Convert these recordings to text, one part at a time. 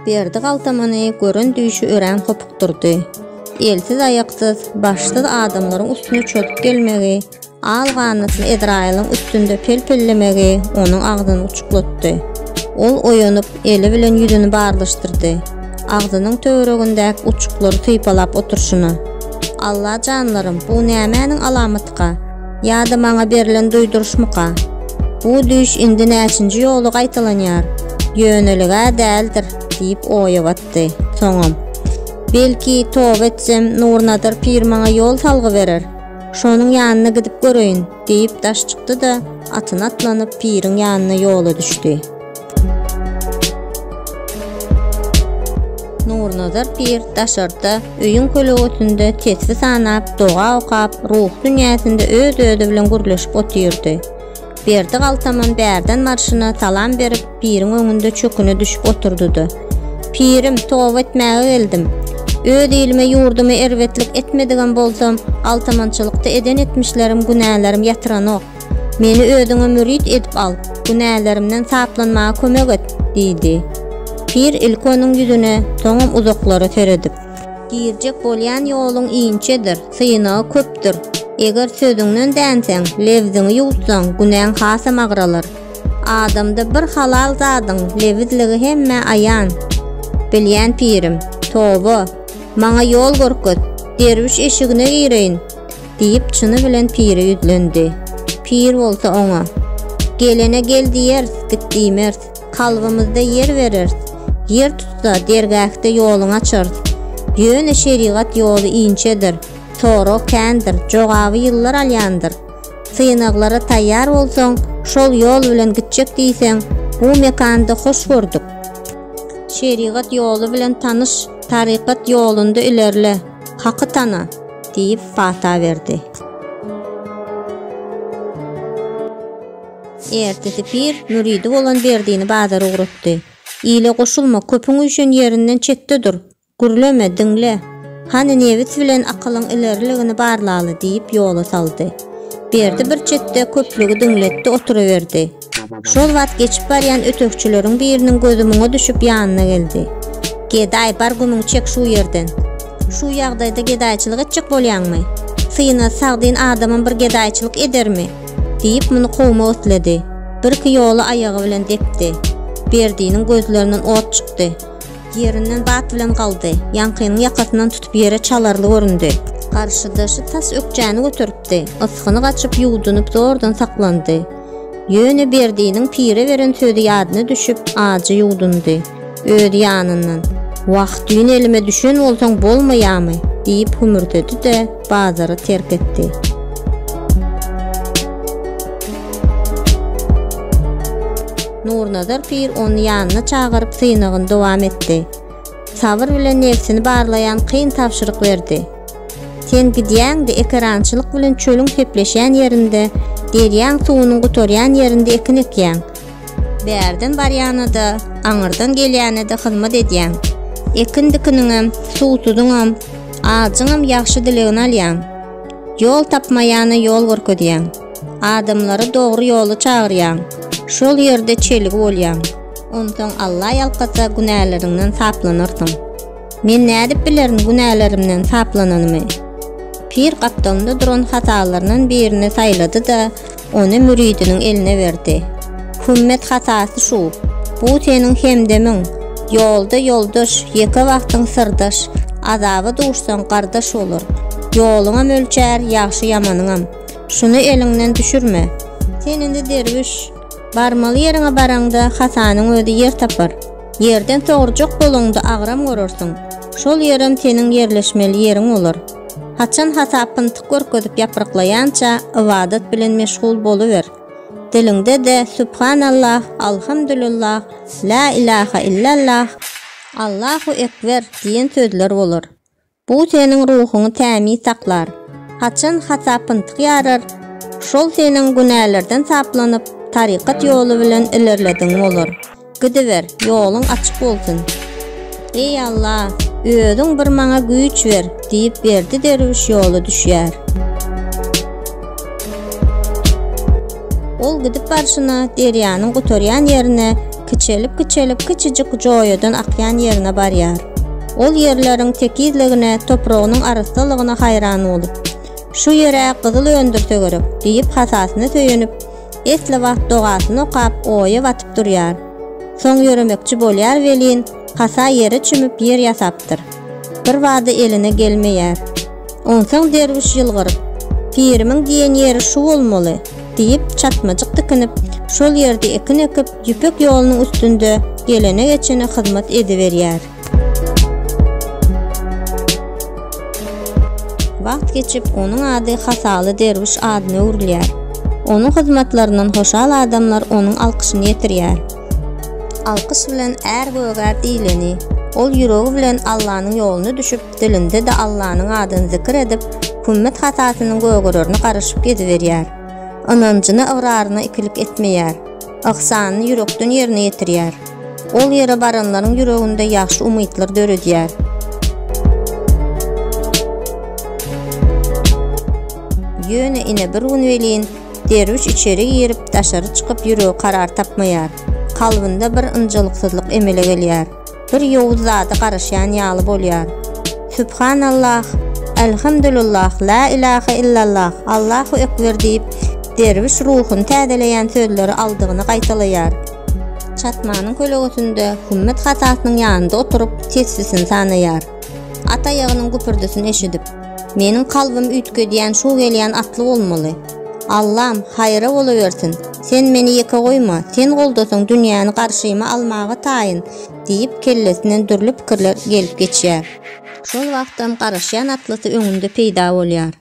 Berdi galtamyny gören düýşi örän hopukdyrdy. Elsiz-aýaksyz, başsyz adamlaryň üstüne çöküp gelmegi, al ganatyny Edraýylyň üstünde pelpellemegi onuň agzyny uçuklatdy. Ol oýanyp, eli bilen ýüzüni barlyşdyrdy. Agzynyň töweregindäki uçuklary sypalap oturşyna. Alla janlarym, bu nämäniň alamatyka? Ýa-da maňa berlen duýduryşmyka? Bu düýş indi näçinji ýoly gaýtalanýar? Ýönelige-ä däldir, diýip oýa batdy. Soňam. Belki, toba etsem, Nurnadyr pir maňa ýol salgy berer. Şonuň ýanyna gidip göreýin, diýip daş çykdy-da, atyna atlanyp, piriň ýanyna ýola düşdi. Nurnazar pir daşarda, öýüň kölegotynda tesbi sanap, doga okap, ruhy dünýäsinde öz-özi bilen gürleşip otyrdy. Berdi galtaman bärden barşyna salam berip, piriň öňünde çöküne düşüp oturdy-da, Pirim, toba etmäge geldim. Öz ilime-ýurduma erbetlik etmedigem bolsam, galtamançylykda eden etmişlerim, günälerim ýatyranok. Meni özüňe mürit edip al, günälerimden saplanmaga kömek et! diýdi. Pir ilki onuň ýüzüne, soňam uzaklara seredip. Girjek bolýan ýoluň inçedir, synagy köpdür. Eger sözüňden dänseň, lebziňi ýuwutsaň, günäň hasam agralar. Adamda bir halal zadyň lebizligi hemmä aýan. Bilýän pirim, toba, maňa ýol görkez, derwüş eşigine gireýin! Diýip, çyny bilen pire ýüzlendi. Pir bolsa oňa, Gelene gel diýeris, git diýmeris. Kalbymyzda ýer bereris. Ýer tutsa, dergähde ýoluňy açarys. Ýöne şerigat ýoly inçedir, sorag kändir, jogaby ýyllar alýandyr. Synaglara taýýar bolsaň, şol ýol bilen gitjek diýseň, bu mekanda hoş gördük. Şerigat ýoly bilen tanyş, tarykat ýolunda ilerle. Haky tana! diýip pata berdi. Ertesi pir müridi bolan Berdini bazara ugratdy. Ile goşulma, köpüň üýşen ýerinden çetde dur. Gürleme, diňle. Hany nebis bilen akylyň ileriligini barlaly, diýip ýola saldy. Berdi bir çetde köplügi diňletdi oturyberdi. Şol wagt geçip barýan ötegçileriň biriniň gözi muňa düşüp ýanyna geldi. Gedaý, bar gümüňi çek şu ýerden. Şu ýagdaýda gedaýçylyk etjek bolýaňmy? Syna, sagdyn adamam bir gedaýçylyk edermi? diýip muny kowma otlady. Birki ýola aýagy bilen depdi. Berdiniň gözlerinden ot çykdy. Ýerinden bat bilen galdy. Ýaňkynyň ýakasyndan tutup ýere çalarly göründi. Garşydaşy tas ökjäni göteripdi. Ysgyny gaçyp, ýuwdunyp zordan saklandy. Ýöne Berdiniň pire beren sözi ýadyna düşüp, ajy ýuwdundy. Öz ýanyndan, Wah, düýn elime düşen bolsaň bolmaýamy? diýip hümürdedi-de, bazary terk etdi. Nurnazar pir ony ýanyna çagyryp synagyny dowam etdi. Sabyr bilen nebsini barlaýan kyn tabşyryk berdi. Sen gidýäň-de, ekerançylyk bilen çölüň sepleşýän ýerinde, derýaň suwunyň gutarýan ýerinde ekin ekýäň. Bärden barýana-da, aňyrdan gelýäne-de hyzmat edýäň. Ekin-dikiniňem, suwsuzyňam, ajyňam ýagşy dilegini alýaň. Ýol tapmaýana ýol görkezýäň. Adamlary dogry ýola çagyrýaň. Şol ýerde çelgi bolýaň. Onsoň Alla ýalkasa, günäleriňden saplanarsyň. Men nädip bilerin günälerimden saplananymy? Pir gapdalynda duran hatalaryndan birini saýlady-da, ony müridiniň eline berdi. Hümmet hatasy şu, bu seniň hemdemiň, ýolda ýoldaş, ýeke wagtyň syrdaş, azaba duşsaň gardaş bolar. Ýoluňam ölçär, ýagşy-ýamanyňam. Şuny eliňden düşürme. Sen indi derwüş. Barmaly ýeriňe baraňda hatanyň özi ýer tapar. Ýerden sogurjak boluňda agram görersiň, şol ýerem seniň ýerleşmeli ýeriň bolar. Haçan hasap pyntyk görkezip ýapryklaýança ybadat bilen meşgul boluber. Diliňde-de Subhanallah, Alhamdulillah, Lä ilaha illallah, Allahu ekber diýen sözler bolar. Bu seniň ruhuňy tämiz saklar. Haçan hasap-yntyk ýarar, şol seniň günälerden saplanyp, tarykat ýoly bilen ilerledigiň bolar. Gidiber, ýoluň açyk bolsun! Eý, Alla, Özüň bir maňa güýç ber! diýip, Berdi derwüş ýola düşýär. Ol gidip barşyna derýanyň gutarýan ýerine Kiçelip-kiçelip kiçijik joýadan akýan ýerine barýar. Ol ýerleriň tekizligine, topragynyň arassalygyna haýran bolup, Şu ýer-ä gyzyl öndürse gerek, diýip hasasyna söýenip, esli wagt dogasyny okap, oýa batyp durýar. Soň ýöremekçi bolýar welin, hasa ýere çümüp ýer ýasapdyr. Bir bada eline gelmeýär. Onsoň derwüş ýylgyryp, Pirimiň diýen ýeri şu bolmaly! diýip, çatmajyk tikinip, şol ýerde ekin ekip, Ýüpek ýolunyň üstünde gelene-geçene hyzmat ediberýär. Wagt geçip, onuň ady Hasaly derwüş adyna öwrülýär. Onuň hyzmatlaryndan hoşal adamlar onuň alkyşyny ýetirýär. Alkyş bilen är gögär iýleni. Ol ýüregi bilen Allanyň ýoluna düşüp, dilinde-de Allanyň adyny zikir edip, kümmet hasasynyň gögererini garaşyp geziberýär. Ynanjyna-ygraryna ikilik etmeýär. Yhsanyny ýürekden ýerine ýetirýär. Ol ýere baranlaryň ýüreginde ýagşy umytlar döredýär. Ýöne ine bir gün welin, Derwüş içeri girip, daşary çykyp ýüregi karar tapmaýar. Kalbynda bir ynjalyksyzlyk emele gelýär. Bir ýowuz zada garaşýan ýaly bolýar. Subhanallah, Elhamdulillah, La ilaha illallah, Allahu ekber diýip, derwüş ruhuny täzeleýän sözleri aldygyny gaýtalaýar. Çatmanyň kölegesinde Hümmet hatasynyň ýanynda oturyp, tesbisini sanaýar. At aýagynyň güpürdisini eşidip, meniň kalbym üýtgedýän şu gelýän atly bolmaly. Allam, haýra bolawersin, sen meni ýeke goýma, sen goldasaň dünýäni garşyma almaga taýyn, diýip, kellesinden dürli pikirler gelip geçýär. Şol wagtam garaşýan atlysy öňünde peýda bolýar.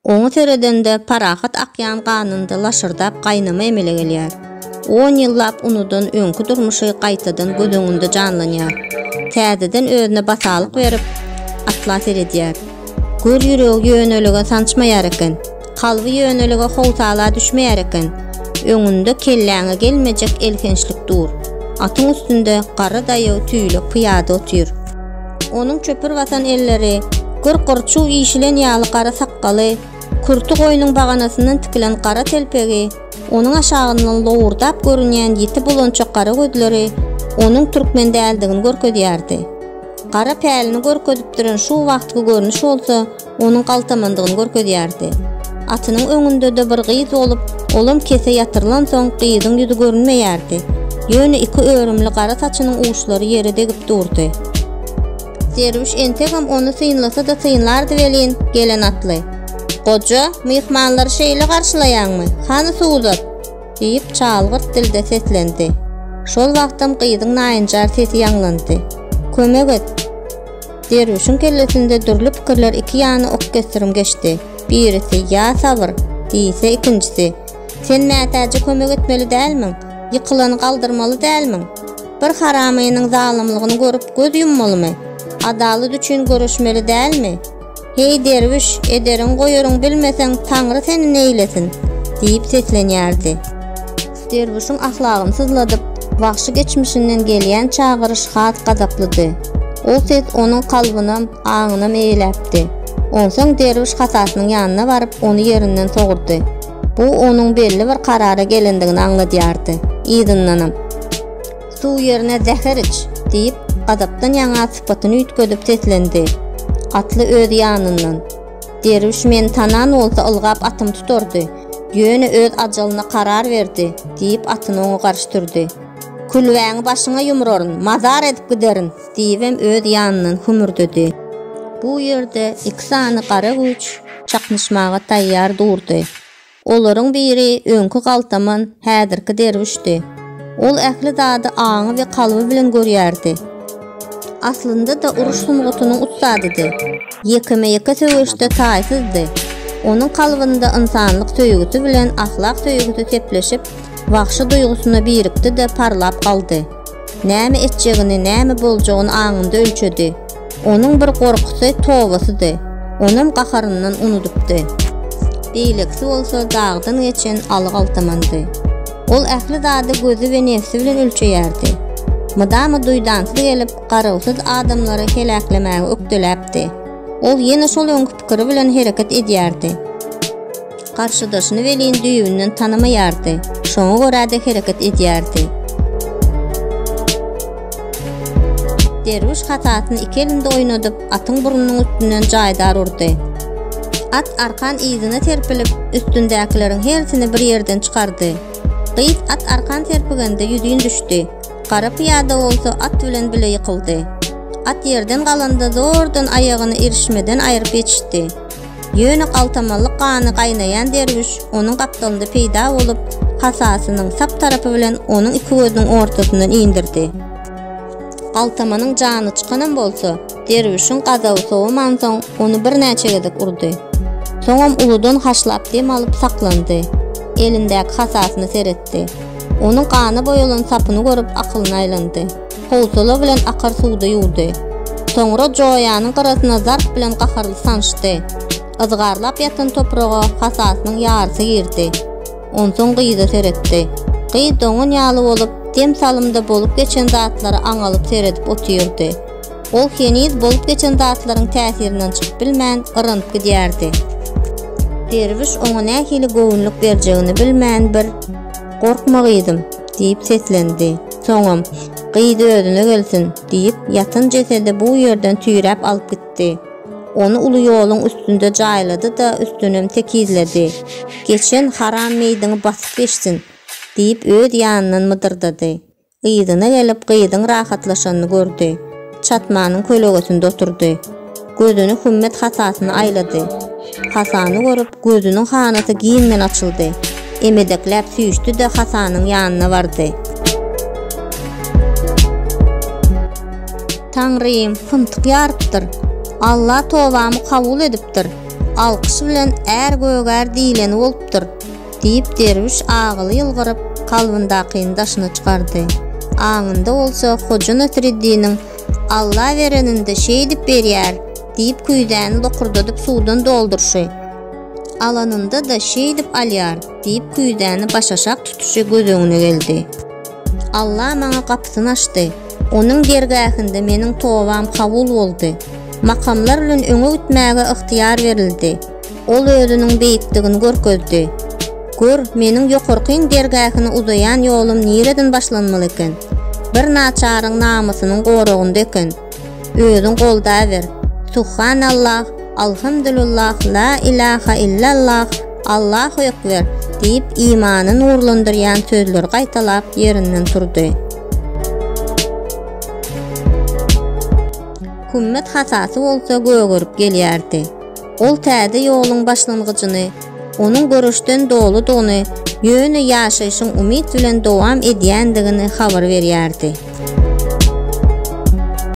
Oňa seredende parahat akýan ganynda laşyrdap gaýnama emele gelýär. On ýyllap unudan öňki durmuşy gaýtadan göz öňünde janlanýar. Täzeden özüne batalyk berip, atla seredýär. Gör ýüregi ýönelige sançmaýar eken. Kalby ýönelige howsala düşmeýär eken. Öňünde kelläňe gelmejek elhençlik dur. Atyň üstünde garry daýaw tüýlek pyýada otyr. Onuň çöpür basan elleri, gür gyrçuw işilen ýaly gara sakgaly, kürti goýnuň baganasyndan tikilen gara telpegi, onuň aşagyndan lowurdap görünýän ýiti bulançak gara gözleri onuň türkmen däldigini görkezýärdi. Gara pälini görkezip duran şu wagtky görnüş bolsa, onuň galtamandygyny görkezýärdi. Atynyň öňünde-de bir gyz bolup, olam kese ýatyrylansoň, gyzyň ýüzi görünmeýärdi. Ýöne iki örümli gara saçynyň uçlary ýere degip durdy. Derwüş entegem ony synlasa-da synlardy welin, gelen atly. Goja, myhmanlary şeýle garşylaýaňmy? Hany suw uzat! diýip, çalgyrt dilde seslendi. Şol wagtam gyzyň naýynjar sesi ýaňlandy. Kömek et! Derwüşiň kellesinde dürli pikirler iki ýana ok kesdirim geçdi. Birisi, Ýa sabyr! diýse, ikinjisi, Sen mätäje kömek etmeli dälmiň? Ýykylany galdyrmaly dälmiň? Bir haramynyň zalymlygyny görüp göz ýummalymy? Adalat üçin göreşmeli dälmi? Heý, derwüş, ederin-goýaryň bilmeseň, Taňry seni neýlesin! diýip seslenýärdi. Derwüşiň ahlagyny syzladyp, wagşy geçmişinden gelýän çagyryş has gazaplydy. Ol ses onuň kalbynam, aňynam eýeläpdi. Onsoň derwüş hatasynyň ýanyna baryp, ony ýerinden sogurdy. Bu onuň belli bir karara gelendigini aňladýardy. Yzyndanam. Suw ýerine zäher iç! diýip, gazapdan ýaňa sypatyny üýtgedip seslendi. Atly öz ýanyndan. Derwüş meni tanan bolsa ylgap atymy tutardy. Ýöne öz ajalyna karar berdi, diýip, atyny oňa garşy sürdi. Külbäňi başyňa ýumraryn, mazar edip giderin! diýibem öz ýanyndan hümürdedi. Bu ýerde iki sany gara güýç çaknyşmaga taýýar durdy. Olaryň biri öňki galtaman, häzirki derwüşdi. Ol ähli zady aňy we kalby bilen görýärdi. Aslynda-da uruş sungatynyň ussadydy. Ýekeme-ýeke söweşde taýsyzdy. Onuň kalbynda ynsanlyk söýgüsi bilen ahlak söýgüsi sepleşip, wagşy duýgusyna birikdi-de parlap galdy. Näme etjegini, näme boljagyny aňynda ölçedi. Onuň bir gorkusy, tobasydy. Onam gaharyndan unudypdy. Beýlekisi bolsa dagdan geçen aly galtamandy. Ol ähli zady gözi we nebsi bilen ölçeýärdi. Mydama duýdansyz gelip, garawsyz adamlary heläklemäge ökdeläpdi. Ol ýene şol öňki pikiri bilen hereket edýärdi. Garşydaşyny welin düýbünden tanamaýardy, şoňa görä-de hereket edýärdi. Derwüş hasasyny iki elinde oýnadyp, atyň burnunyň üstünden jaýdar urdy. At arkan yzyna serpilip, üstündäkileriň hersini bir ýerden çykardy. Gyz at arkan serpigende ýüzin düşdi. Gara pyýada bolsa at bilen bile ýykyldy. At ýerden galanda zordan aýagyny irişmeden aýryp ýetişdi. Ýöne galtamanlyk gany gaýnaýan derwüş onuň gapdalynda peýda bolup, hasasynyň sap tarapy bilen onuň iki gözüniň ortasyndan indirdi. Galtamanyň jany çykanam bolsa, derwüşiň gazaby sowamansoň, ony birnäçe gezek urdy. Soňam uludan haşlap dem alyp saklandy. Elindäki hasasyna seretdi. Onuň gana boýalan sapyny görüp, akylyny aýlandy. Howsala bilen akar suwda ýuwdy. Soňra joýanyň gyrasyna zarp bilen gaharly sançdy. Yzgarlap ýatan topraga hasasynyň ýarysy girdi. Onsoň gyza seretdi. Gyz doňan ýaly bolup, dem salymda bolup geçen zatlara aňalyp seredip otyrdy. Ol heniz bolup geçen zatlaryň täsirinden çykyp bilmän, yranyp gidýärdi. Derwüş oňa nähili göwünlik berjegini bilmän bir, Gorkma gyzym. diýip seslendi. Soňam, Gyz özüne gelsin! diýip, ýatan jesedi bu ýerden tüýräp alyp gitdi. Ony uly ýoluň üstünde jaýlady-da, üstünem tekizledi. Geçen haram meýdiňi basyp geçsin! diýip, öz ýanyndan mydyrdady. Yzyna gelip, gyzyň rahatlaşanyny gördi. Çatmanyň kölegesinde oturdy. Gözüni Hümmet hasasyna aýlady. Hasany görüp, gözüniň hanasy giňden açyldy. Emedekläp süýşdi-de hasanyň ýanyna bardy. Taňrym, pyntyk ýarypdyr. Alla tobamy kabul edipdir. Alkyş bilen är gögär diýleni bolupdyr. Diýip, derwüş agyly ýylgyryp, kalbyndakyny daşyna çykardy. Aňynda bolsa Hoja Nasreddiniň, Alla berenini-de şeýdip berýär! diýip, küýzäni lokurdadyp suwdan dolduryşy, alanynda-da şeýdip alýar! diýip, küýzäni başaşak tutuşy göz öňüne geldi. Alla maňa gapysyny açdy. Onuň dergähinde meniň tobam kabul boldy. Makamlar bilen öňe gitmäge ygtyýar berildi. Ol özüniň beýikdigini görkezdi. Gör, meniň ýokarkyň dergähine uzaýan ýolum nireden başlanmaly eken? Bir naçaryň namysynyň goragynda eken. Özüň goldaýber. Suhhanallah, Alhamdulillah, La ilaha illallah, Allahu ekber, diýip, imany nurlandyrýan sözleri gaýtalap, ýerinden turdy. Kümmet hasasy bolsa gögerip gelýärdi. Ol täze ýoluň başlangyjyny, onuň göreşden doludygyny, ýöne ýaşaýşyň umyt bilen dowam edýändigini habar berýärdi.